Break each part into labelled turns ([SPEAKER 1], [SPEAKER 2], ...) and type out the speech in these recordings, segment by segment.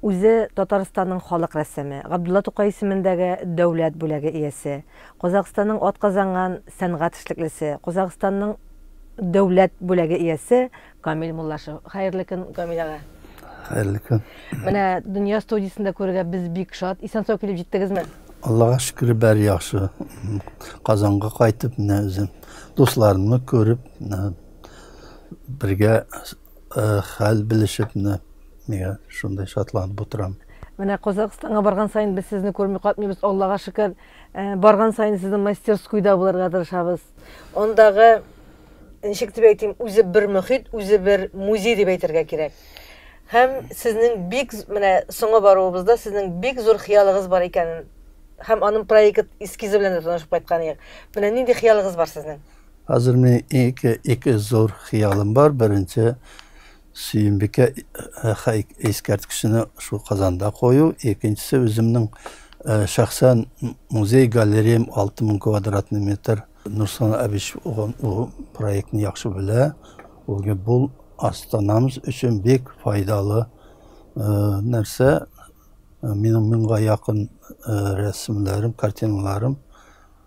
[SPEAKER 1] Үзе Татарстанның халык рәссамы, Габдулла Тукай исемендәге дәүләт бүләге иясе, Казакъстанның атказанган сәнгать эшлеклесе, Казакъстанның дәүләт бүләге иясе Камил Муллашев. Хәерле көн, Камил ага! Хәерле көн! Менә Дөнья студиясендә күрергә без бик шат. Исән-сау килеп җиттегезме? Аллага шөкер, бәр яхшы. Казанга кайтып, менә үзем дусларымны күреп, бергә Хәл белешеп менә миңа шундый шатланып утырам. Менә Казахстанга барган саен без сезне күрми катмыйбыз, Аллага шөкер. Барган саен сезнең мастерскуйда булырга тырышабыз. Андагы, ничек дип әйтим, үзе бер мөхит, үзе бер музей дип әйтергә кирәк. Һәм сезнең бик менә соңга баруыбызда сезнең бик зур хыялыгыз бар икәнен һәм аның проект эскизы белән дә танышып кайткан идек. Менә нинди хыялыгыз бар сезнең? Хәзер мин ике, ике зур хыялым бар. Беренче Сөембикә э, хәй- искәрткечне шул Казанда кую. Икенчесе үземнең э, шәхсән музей галереям 6000 квадратный метр. Нурслан Абич уган ул проектны яхшы белә. Ул ге- бул Астанамыз өчен бик файдалы э, нәрсә. Минем меңга якын э, рәсемнәрем, картиналарым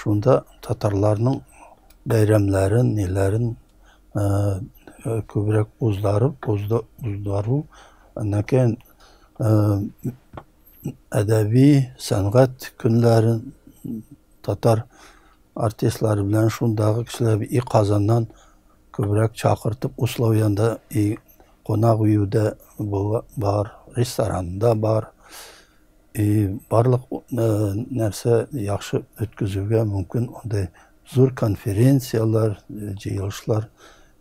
[SPEAKER 1] Шунда татарларның бәйрәмнәрен, ниләрен күбрәк уздарып, уздару, әннәкәен әдәби, сәнгать көннәрен татар артистлары белән шундагы кешеләр и Казаннан күбрәк чакыртып, условиенда и кунак өюдә бар, ресторанда бар. И барлык нәрсә яхшы үткәзүгә мөмкин андый зур конференцияләр, җыелышлар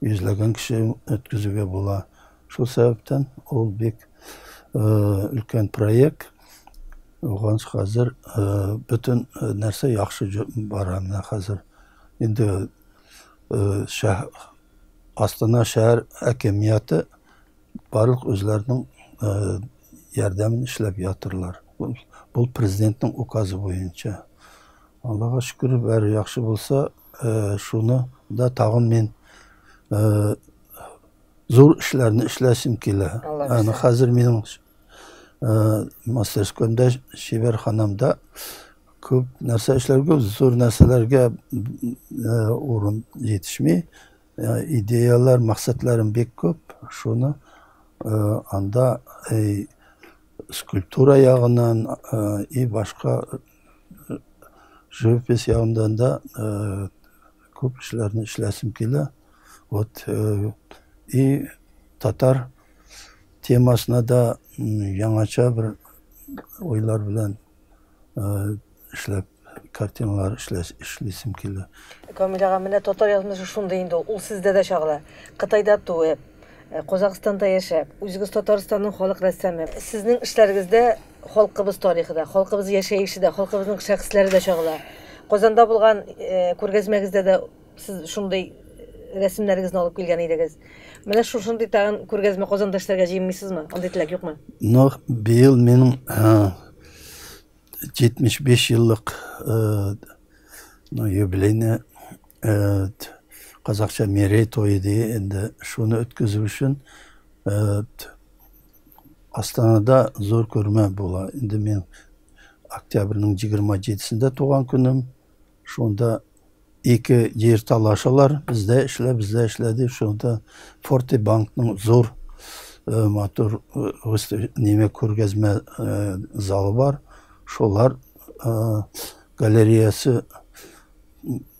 [SPEAKER 1] йөзләгән кеше үткәзүгә була. Шул сәбәптән ул бик өлкән проект. Уган хәзер бөтен нәрсә яхшы бара. Менә хәзер инде Астана шәһәр әкемияте Барлык үзләренең ярдәмен эшләп ятырлар. Бу президентның указы буенча. Аллага шөкер, бәр яхшы булса, шуны да тагын мин зур эшләрне эшләсем килә. Аны хәзер минем мастерскоймда, шибәрханамда күп нәрсә эшләргә, зур нәрсәләргә урын җитешми. Идеялар, максатларым бик күп. Шуны анда скульптура ягыннан и башка живопись ягыннан да күп эшләрне эшләсем килә. Вот и татар темасына да яңача бер уйлар белән Эшләп картиналар эшлисем килә. Камил ага, менә татар язмышы шундый инде ул. Ул сездә дә чагыла. Кытайда туып, Казакъстанда яшәп, үзегез Татарстанның халык рәссамы. Сезнең эшләрегездә халкыбыз тарихы да, халкыбыз яшәеше дә, халкыбызның шәхесләре дә чагыла. Казанда булган күргәзмәгездә дә Сез шундый рәсемнәрегезне алып килгән идегез. Менә шушындый тагын күргәзмә Казанда эшләргә җыенмыйсызмы? Андый теләк юкмы? Ну, быел минем 75 еллык юбилейны казакча мерей тойы ди, инде шуны үткәзү өчен Астанада зур күрмә була. Инде мин октябрьнең 27-сендә туган көнем. Шунда ике җир талашалар, бездә эшлә, бездә эшлә дип, шунда Форте банкның зур э, матур э, неме күргәзмә э, залы бар. Шулар галереясы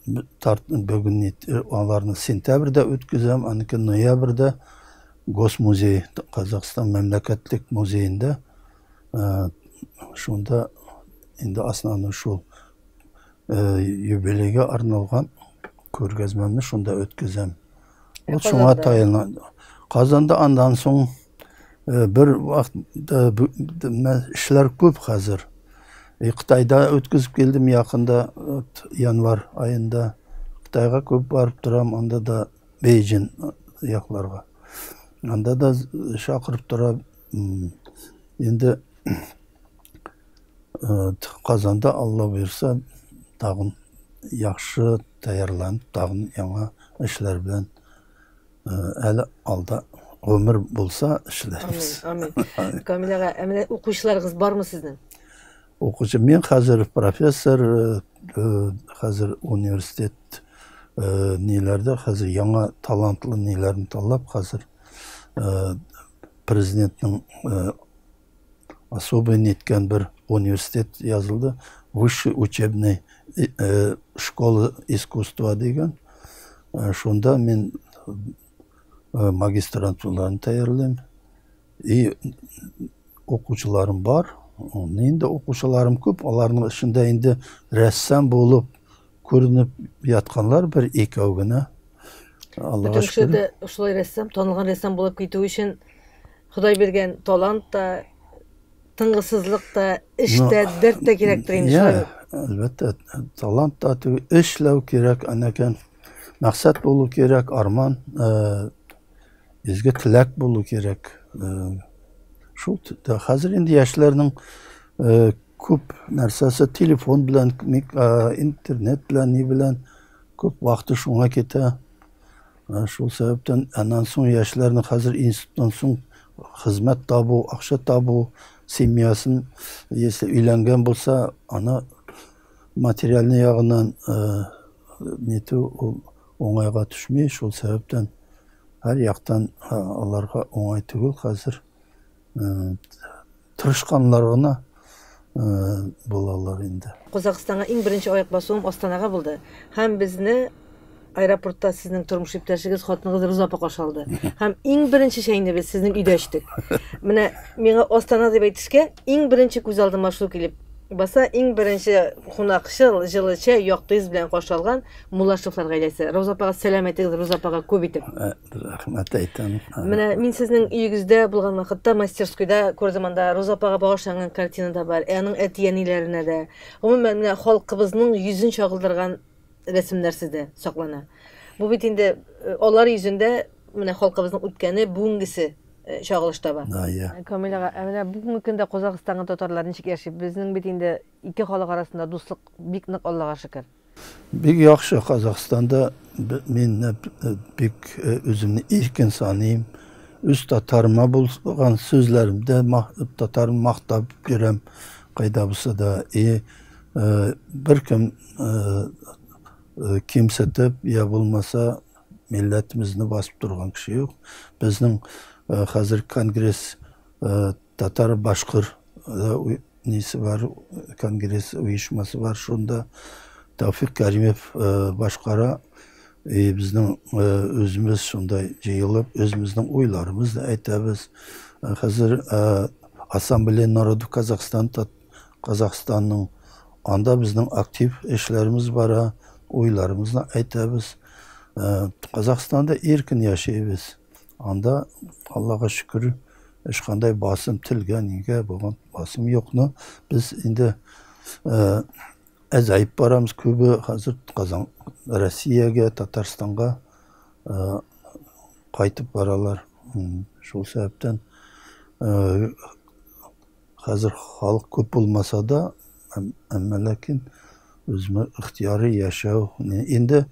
[SPEAKER 1] бүген аларны сентябрьдә үткәзәм, аныкы ноябрьдә Госмузей, Казахстан мәмләкәтлек музеенда шунда инде основной шул юбилейга арналган күргәзмәмне шунда үткәзәм. Ул шуңа таяна. Казанда андан соң бер вакытта эшләр күп хәзер. И Кытайда үткәзеп килдем якында январь аенда. Кытайга күп барып торам, анда да Бейҗин якларга. Анда да чакырып тора. Инде Казанда Алла боерса тагын яхшы тәярланып тагын яңа эшләр белән әле алда гомер булса эшләрбез. Амин. Амин. Камил ага, ә менә укучыларыгыз бармы сезнең? Укучы мен хәзер профессор, хәзер университет ниләрдә хәзер яңа талантлы ниләрне таллап хәзер президентның особый ниткән бер университет язылды, высший учебный школа искусства дигән. Шунда мин магистрантураны тәйярлыйм. И укучыларым бар. Инде укучыларым күп, аларның эчендә инде рәссам булып Күренеп ятканлар бер икәү генә. Аллага шөкер. Бүтән кеше шулай рәссам, танылган рәссам булып китү өчен Ходай биргән талант та, тынгысызлык та, эш тә, дәрт тә кирәктер инде шулай. Әлбәттә, талант та, эшләү кирәк, анакән мәксәт булу кирәк, арман, э, изге теләк булу кирәк. Э, шул хәзер инде яшьләрнең э, Күп нәрсәсе телефон белән, интернет белән, ни белән күп вакыты шуңа китә. Шул сәбәптән аннан соң яшьләрне хәзер институттан соң хезмәт табу, акча табу, семьясын, если өйләнгән булса, аны материальный ягыннан нету уңайга төшми, шул сәбәптән һәр яктан аларга уңай түгел хәзер. Тырышканнар гына булалар инде. Казакъстанга иң беренче аяк басуым Астанага булды һәм безне аэропортта сезнең тормыш иптәшегез, хатыныгыз Роза апа каршы алды. Һәм иң беренче чәйне без сезнең өйдә эчтек. Менә миңа Астана дип әйтешкә, иң беренче күз алдыма шул килеп баса, иң беренче кунакчыл, җылы чәй, якты йөз белән каршы алган Мулашевлар гаиләсе. Роза апага сәлам әйтегез, Роза апага күп итеп. Рәхмәт әйтәм. Менә мин сезнең өегездә булган вакытта мастерскойда күрдем анда Роза апага багышланган картина да бар. Ә аның әти-әниләренә дә. Гомумән, менә халкыбызның йөзен чагылдырган рәсемнәр сездә саклана. Бу бит инде э, алар йөзендә менә халкыбызның үткәне, бүгенгесе э, чагылыш таба. Да, я. Камил ага, ә менә бүгенге көндә Казакъстанга татарлар ничек яши? Безнең бит инде ике халык арасында дуслык бик нык, Аллага шөкер. Бик яхшы Казахстанда мин бик үземне иркен саныйм. Үз татарыма булган сүзләремдә татарым мактап йөрәм кайда булса да. И беркем кимсетеп я булмаса милләтебезне басып торган кеше юк. Безнең хәзер конгресс Татар башкор да несе бар, конгресс оешмасы бар, шунда Тауфик Кәримев башкара. И безнең үзебез шунда җыелып, үзебезнең уйларыбызны әйтәбез. Хәзер Ассамблея народов Казахстан Казахстанның анда безнең актив эшләребез бара, уйларыбызны әйтәбез. Казахстанда иркен яшибез. Анда, Аллага шөкер, ешкандай басым телгә, нигә булган басым юк, но без инде әзәеп барамыз күбе хәзер Казан, Россиягә, Татарстанга кайтып баралар. Шул сәбәптән хәзер халык күп булмаса да, әмма ләкин үзме ихтияры яшәү. Инде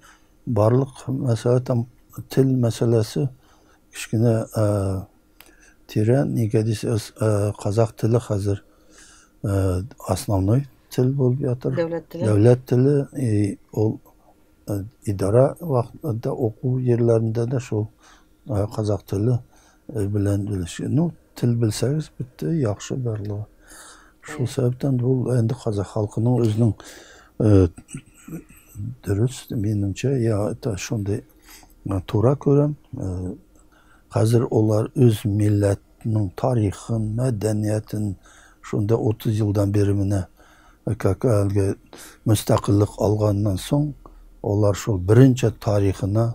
[SPEAKER 1] Барлык мәсьәлә там тел мәсьәләсе кечкенә тирән, нигә дисәгез, казах теле хәзер основной тел булып ятыр. Дәүләт теле. Дәүләт теле, и ул идара вакытында уку җирләрендә дә шул казах теле Ир белән белешкән. Ну, тел белсәгез, бетте, яхшы барлыгы. Шул сәбәптән ул инде казах халкының үзенең э, дөрес, минемчә, я это шундый э, тура күрәм. Э, Хәзер олар үз милләтнең тарихын, мәдәниятен шунда 30 елдан бері менә э, как әлгі мөстәкіллік алғаннан соң олар шул бірінші тарихына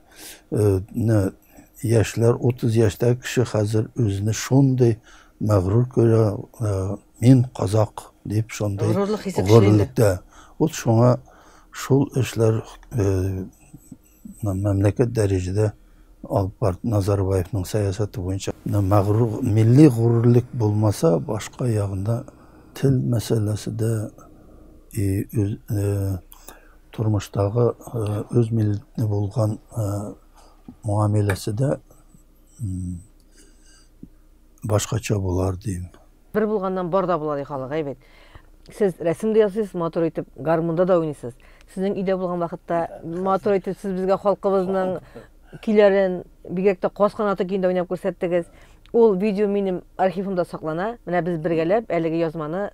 [SPEAKER 1] Менә яшьләр, 30 яшьтәге кеше хәзер үзенә шундый мәгърур күрә, мин казак дип шундый горурлык хисе күченде. Вот шуңа шул эшләр мәмләкәт дәрәҗәдә алып барып Назарбаевның сәясәте буенча мәгърур милли горурлык булмаса, башка ягында тел мәсьәләсе дә и Тормыштагы үз милләтенә булган муамиләсе дә башкача булар дим. Бер булганнан бар да була ди халык, әй бит. Сез рәсем дә ясыйсыз, матур итеп гармунда да уйныйсыз. Сезнең өйдә булган вакытта матур итеп сез безгә халкыбызның көйләрен, бигрәк тә Каз канаты көен дә уйнап күрсәттегез. Ул видео минем архивымда саклана. Менә без бергәләп әлеге язманы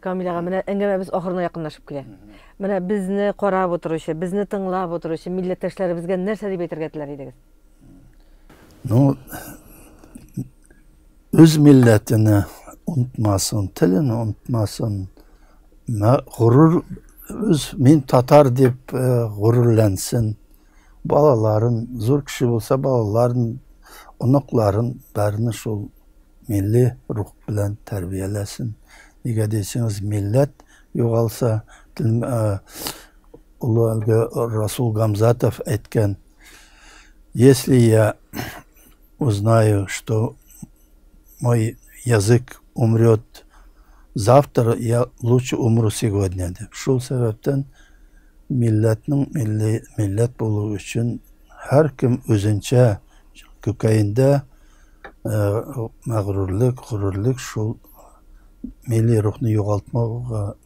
[SPEAKER 1] Камил ага, менә әңгәмәбез ахырына якынлашып килә. Менә безне карап утыручы, безне тыңлап утыручы милләттәшләребезгә нәрсә дип әйтергә теләр идегез? Ну, үз милләтенә онтмасын, телен онтмасын, горур үз мин татар дип горурлансын. Балаларын, зур кеше булса, балаларын, оныкларын, барны шул милли рух белән тәрбияләсен. Нигә дисеңез, милләт югалса, олы әлеге Расул Гамзатов әйткән, Если я узнаю, что мой язык умрет завтра, я лучше умру сегодня, дип. Шул сәбәптән, Милләтнең милли милләт булуы өчен һәркем үзенчә күкәендә мәгърурлек, горурлек, шул милли рухны югалтмауга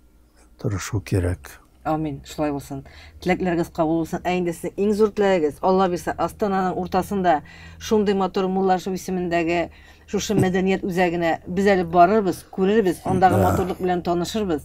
[SPEAKER 1] тырышу кирәк. Амин, шулай булсын. Теләкләрегез кабул булсын. Ә инде сезнең иң зур теләгегез, Алла бирсә, Астананың уртасында шундый матур Муллашев исемендәге шушы мәдәният үзәгенә без әле барырбыз, күрербез, андагы матурлык белән танышырбыз.